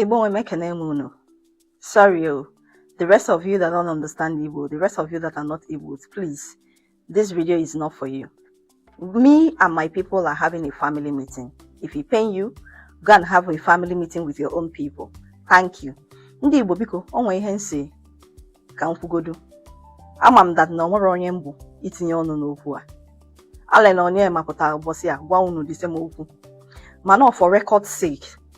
Igbo nwe m, ekene m unu. Sorry o. Oh. The rest of you that don't understand Igbo, the rest of you that are not Igbo, please, this video is not for you. Me and my people are having a family meeting. If it pain you, go and have a family meeting with your own people. Thank you. Ndị Igbo biko, o nwee ihe m sị ka m kwugodu. Ama m that na o nwerọ onye m bụ itinye ọnụ n'okwu a. Allen Onyema pụtara ụbọchị a gwa unu this same okwu. Mana for record sake,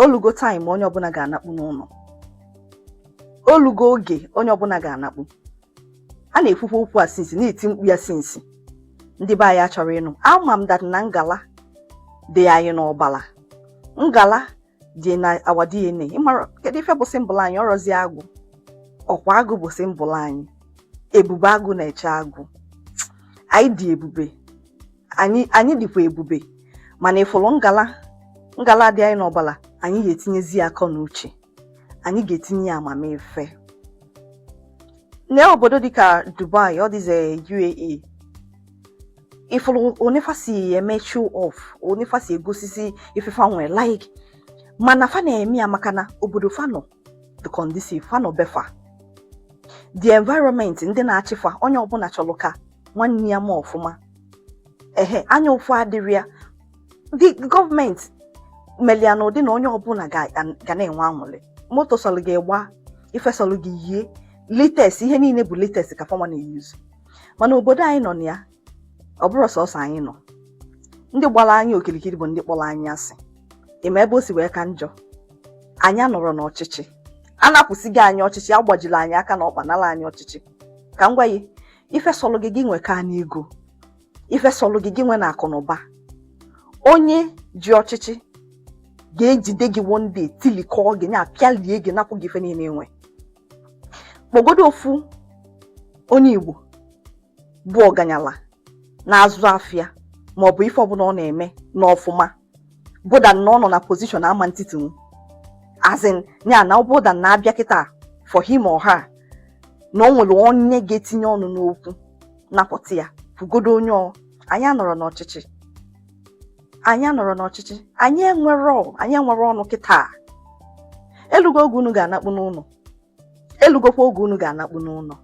o lugo time onye ọbụla ga-anakpu n'ụlọ o lugo oge onye ọbụla ga-anakpu a na-ekwukwa okwu a since na-eti mkpu ya since ndị be anyị achọrọ ịnụ ama m that na ngala dị anyị n'ọbala ngala dị na our DNA ị mara kedu ife bụ symbol anyị ọrọzi agụ ọkwa agụ bụ symbol anyị ebube agụ na-eche agụ anyị dị ebube anyị anyị dịkwa ebube mana ị fụrụ ngala ngala dị anyị n'ọbala anyị ga-etinyezi ya akọ na uche anyị ga-etinye ya amamife n'obodo dịka Dubai all these UAE ị fụrụ one fa si eme show off one fa si egosisi ife fa nwere like mana fa na-eme ya maka na obodo fa nọ dị conducive fa nọ be fa the environment ndị na-achị fa onye ọbụla chọrọ ka nwanne ya ma ọfụma ehe anya ụfụ adịrọ ya ndị government melu ya n'ụdị na onye ọbụla ga na-enwe anwụlị moto sọlụ gị gba ife sọlụ gị yie latest ihe niile bụ latest ka fanwa na-eyuzu mana obodo anyị nọ na ya ọ bụrọ sọsọ anyị nọ ndị gbara anyị okirikiri bụ ndị kpọrọ anyị asị ị ma ebe o si wee ka njọ anyị anọrọ n'ọchịchị a napụsịgo anyị ọchịchị agbajiri anyị aka na ọkpa nara anyị ọchịchị ka m gwa gị ife sọlụ gị gị nwe ka n'ego ife sọlụ gị gị nwe na akụ na ụba onye ji ọchịchị ga-ejide gị one day tilikọọ gị na apịalie gị napụ gị ife niile i nwe kpọgodo ofu onye Igbo bụ ọganyala na-azụ afịa maọbụ ife ọbụla ọ na-eme n'ọfụma bụ that na ọ nọ na position ama ntitinwu as in ya na ọ bụ that na a bịa kịta for him or her na o nwere onye ga-etinye ọnụ n'okwu napụta ya kwugodo onye ọ anyị anọrọ n'ọchịchị anyị anọrọ n'ọchịchị anyị enwerọ anyị enwerọ ọnụ kịta elugo oge unu ga-anakpu n'ụlọ elugokwa oge unu ga-anakpu n'ụlọ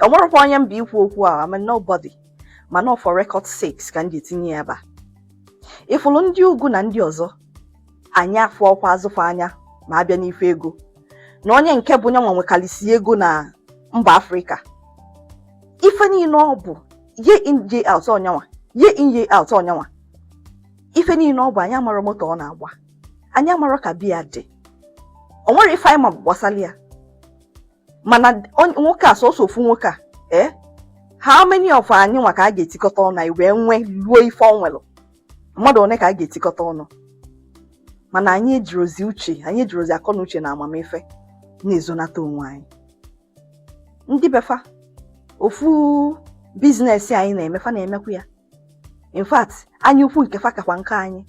o nwerọkwa onye m bụ ikwu okwu a I'm a nobody mana ọ for record sakes ka m ji tinye ya ebe a ị fụrụ ndị ugwu na ndị ọzọ anyị afụrọkwa azụ fa anya ma a bịa n'ife ego na onye nke bụ nyanwa nwekalịsị ego na mba afrịka ife niile ọ bụ year in year out ọ nyanwa year in year out ọ nyanwa ife niile ọ bụ anyị amarọ moto ọ na-agba anyị amarọ ka be ya dị o nwerọ ife anyị ma gbasara ya mana nwoke a sọsọ ofu nwoke a ee eh, how many of anyị nwa ka a ga-etikọta ọnụ anyị wee nwee ruo ife o nwere mmadụ one ka a ga-etikọta ọnụ mana anyị ejirozi uche anyị ejirozi akọ na uche na amamife na-ezonata onwe anyị ndị be fa ofu business anyị na-eme fa na-emekwu ya in fact anya ukwu nke fa kakwa nke anyị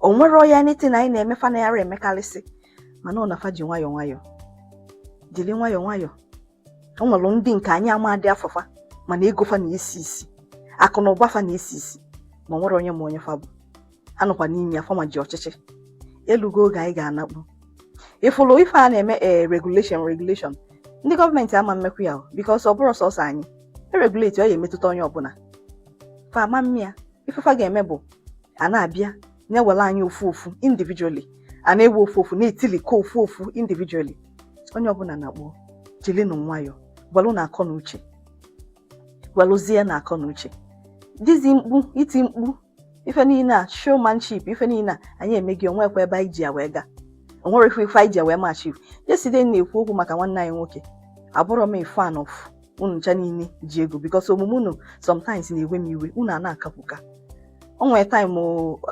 o nwerọ anything anyị na-eme fa na-arọ emekarịsị mana ọ na fa ji nwayọọ nwayọọ jiri nwayọọ nwayọọ o nwere ndị nke anyị amadị afa fa mana ego fa na-esi isi akụ na ụba fa na-esi isi ma o nwerọ onye ma onye fa bụ a nọkwa n'ime ya fanwa ji ọchịchị elugo oge anyị ga-anakpu ị fụlụ ife a na-eme ee eh, regulation regulation ndị gọọmenti ama emekwu ya because ọ bụrọ sọsọ anyị e regulate ọ ya-emetụta onye ọbụla fa ama eme ya ife fa ga-eme bụ a na-abịa na-ewere anyị ofu ofu individually a na-ewe ofu ofu na-etilikọ ofu ofu individually onye ọbụla na-akpọ jilinụ nwayọ gwelunu akọ na uche gweluzienu akọ na uche this mkpu iti mkpu ife niile a showmanship ife niile a anyị emeghị o nwekwa ebe anyị ji ya wee gaa o nwere ife ife anyị ji ya wee achieve yesterday na-ekwu okwu maka nwanne anyị nwoke abụrọ m a fan of unu ncha niile ji ego because omume unu sometimes na-ewe m iwe unu ana-akapụka o nwere time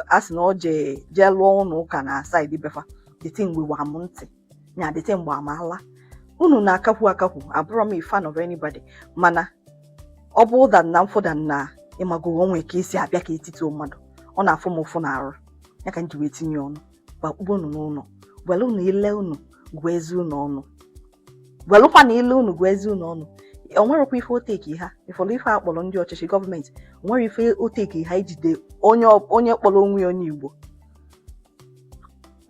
a sị na ọ jee jee lụọ ụlọ ụka na side be fa the thing we were m ntị nya the thing gbaa m ala unu na-akakwu akakwu abụrọ m a fan of anybody mana ọ bụ ụda na mfụda na ị mago o nwe ka e si abịa ka etiti mmadụ ọ na-afụ m ụfụ n'arụ ya ka m ji wee tinye ọnụ gbakpụba unu n'ụlọ gwerenu ile unu gụa eze unu ọnụ gwelukwanu ile unu gụa eze unu ọnụ o nwerọkwa ife o take ha ị fụrụ ife a kpọrọ ndị ọchịchị gọọmenti o nwerọ ife o take ha ijide onye kpọrọ onwe ya onye igbo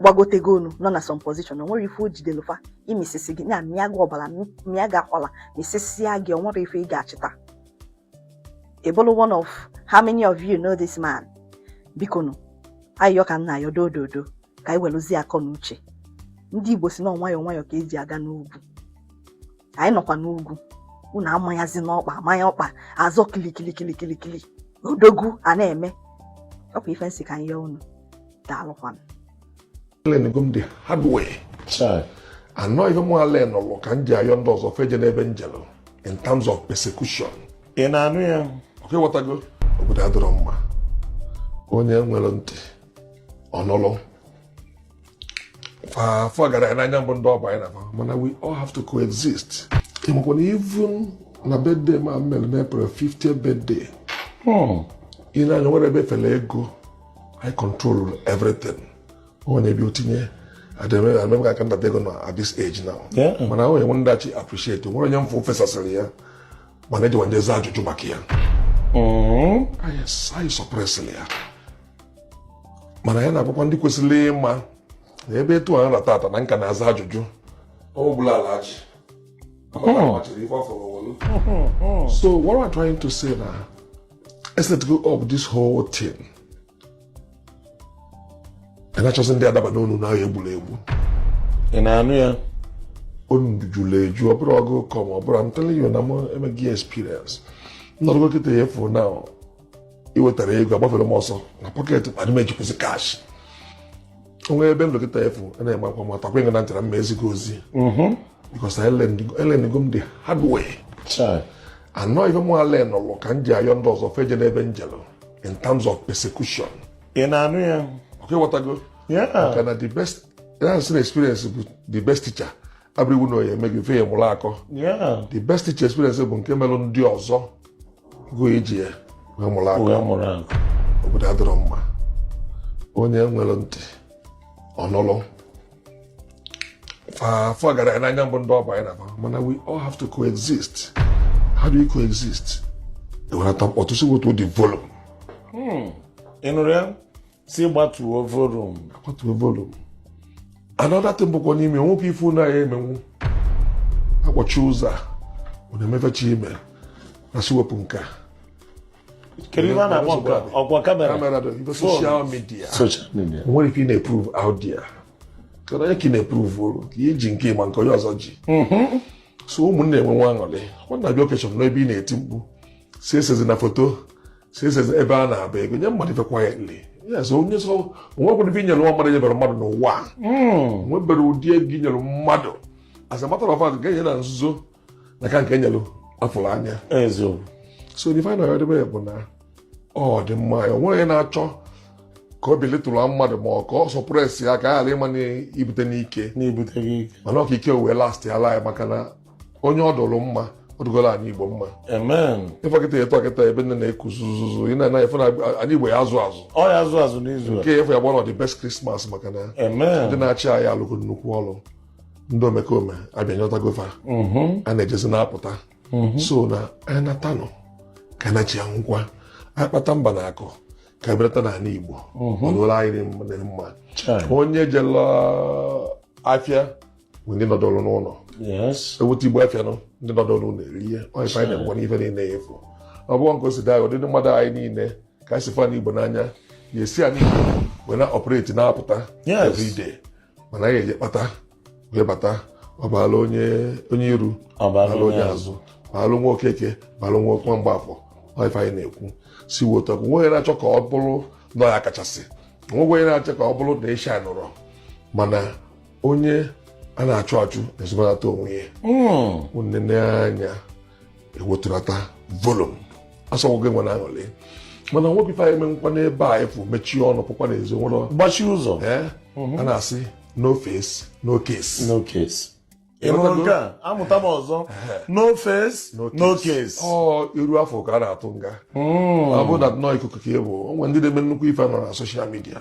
gbagotego enu nọ na some position na o nwerọ ife o jidelu fa ịmịsịsị gị ya mịa gị ọbara mịa gị akwala mịsịsịa gị o nwerọ ife ị ga-achịta ebolo one of how many of you know this man bikonu ayịyọ ka m na-ayọ dododo ka anyị weluzie akọ na uche ndị Igbo si na nwayọọ nwayọọ ka e ji aga n'ugwu anyị nọkwa n'ugwu unu amanyazina ọkpa amanya ọkpa azọ kilikilikilikili odogwu a na-eme ọkwa ife m sị ka m yọọ unu daalụkwanụ alearnụgo m the hard way and ọ ife m learnụlụ ka m ji ayọ ndị ọzọ fa ejena ebe m jelụ in terms of persecution ị na-anụ ya okay ghọtago obodo adịrọ mma onye nwere ntị ọ nụlụ forget na anyị bụ ndị Ọba anyị na mana we all have to coexist ịmakwa na even na birthday m mere na April 50th birthday hmm. ị na-anụ ya o nwere ebe e fere ego I control everything ọ na-ebi otinye adịmemga aka ndata ego na at this age now mana ahụ enwe ndachi appreciate nwere onye m fụ fesasịrị ya mana ejiwa ndị za ajụjụ maka ya hmm. anyị suppress-ịrị ya mana ya na-agwakwa ndị kwesịrị ịma na ebe etu a nra tata na nka na-aza ajụjụ ọbụla ala ji so what am I trying to say na let's let go of this whole thing na-achọsị ndị adaba n'onu na ahụ egburu egbu ị na-anụ ya onu juru eju ọ bụrụ ọgụ kọm ọ bụrụ I'm telling you na m emeghị experience nnọrọgo kịta ya efu na i wetara ego agbafere m ọsọ na pocket kpa n'ime ejikwụsị cash onwe ebe nlekọta efu a na-eme akwa mata kwenye na ntara mma ezigbo ozi because e learn-ego m the hard way Chai. and ọ ife mụ a learn-ụlụ ka m ji ayọ ndị ọzọ fa ejena ebe m jelu in terms of persecution Ị na-anụ ya? ọkwa ị ghọtago Yeah. maka na the best that's an experience bụ the best teacher abụrọ iwu na ọ ya-eme gị before ị mụrụ akọ Yeah. the best teacher experience bụ nke melụ ndị ọzọ gị eji ya wee mụrụ akọ wee mụrụ akọ obodo adịrọ mma onye nwere ntị ọ nụlụ forget na anyị bụ ndị Ọba anyị na-aba mana we all have to coexist how do we coexist e welata mkpọtụ sị wetu the volume ị nụrụ ya sị gbatuo volume a gbatuo volume another thing bụkwa n'ime nwoke ife ụlọ ya emenwu akpọchi ụzọ a ọ na-emefecha ime na sị wepụ nke a kedu ihe a na-akpọ nke a? ọkwa camera camera dị ife social media social media o nwere ife ị na-eprove out there kedu onye ka ị na-eprove-ụrụ ka ihe ji nke ma nke onye ọzọ ji so ụmụnne enwe nwa aṅụrị ọ na-abịa occasion n'ebe ị na-eti mkpu sị esezina foto since ebe a na-abụ ego nye mmadụ ife quietly yes onye so o nwekwara ife i nyere nwa mmadụ nyebere mmadụ n'ụwa a Mm. nwebere ụdị ego i nyere mmadụ as a matter of fact nke e nye na nzuzo na-aka nke e nyere a fụrụ anya Eziokwu. so the final ọdịbe bụ na ọ dị mma ya onweghị na-achọ ka ọ belittle mmadụ ma ọ ka ọ suppress ya ka a ghara ịma na ibute n'ike N'ebute gị ike. mana ọ ka ike wee last ya laa ya maka na onye ọ dụrụ mma ọ dụgoro ana igbo mma amen ịfọkịta eto akịta ebe nne na-eku zuzuzu ị na-anaghị afịa n'ana igbo ya azụ azụ ọ ya azụ azụ n'izu a nke efu ya gbara the best Christmas maka na ndị amen na-achị anyị alụgo nnukwu ọrụ ndị omekome abịa nyọtago fa Mhm. a na-ejezi na-apụta so na anyị natanụ ka anyị nachi ya ngwa anyị kpata mba na akụ ka anyị bulata n'ala igbo ọ dụrụ anyị dị mma- dị mma Chai. onye jela afịa ndị nọdụrụ n'ụlọ ewute igbo afịa nọ ndị nọdụrụ n'ụlọ erie ya ọ ife anyị na-ekwu n'ife niile ya efu ọ bụghị nke o si daa ụdị mmadụ anyị niile ka anyị si fụ ana igbo n'anya ya esi anyị wee na operate na-apụta everyday mana anyị eje kpata wee bata ọ baala onye onye iru baala onye azụ baalụ nwa okeke baalụ nwa okwa mgbafọ ọ ife anyị na-ekwu si wotu ọkụ nweghị na-achọ ka ọ bụrụ na ọ ya kachasị nweghị onye na-achọ ka ọ bụrụ na ịsha nụrọ mana onye a na-achụ achụ na-ezobalata onwe ya i nene hmm. anya i wetulata volume ọ sọgbu gị nwere aṅụrị mana nwoke ife anyị menkwa n'ebe a efu mechie ọnụ pụkwa n'ezi nwụrọ gbachi ụzọ mhm. a na-asị no face no case no case ịnụrụ nke a amụta m ọzọ no face no case ọ iru a fụ ka a na-atụ nga hmm. ọ bụ na nnọọ ikuku ka e bụ o nwe ndị na-eme nnukwu ife nọ na social media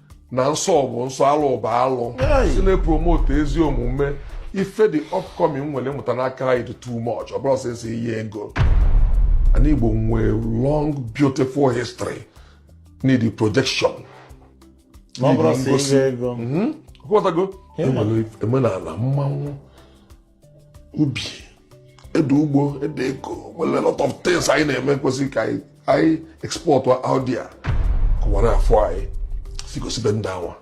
na nsọ bụ nsọ alụ bụ alụ si na-epromote ezi omume ife the upcoming nwere ịmụta n'aka anyị dị too much ọ bụrọ sọsọ ihe ego ana Igbo nwere long beautiful history need projection ngosi e nwere omenala mmanwụ ubi ede ugbo ede ego nwere a lot of things anyị na-eme kwesịrị ka anyị export out there ka ụwa na-afụ anyị sị gosibe ndị awa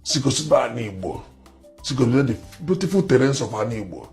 sị gosibe ana igbo sị gosibe the beautiful terrains of ana igbo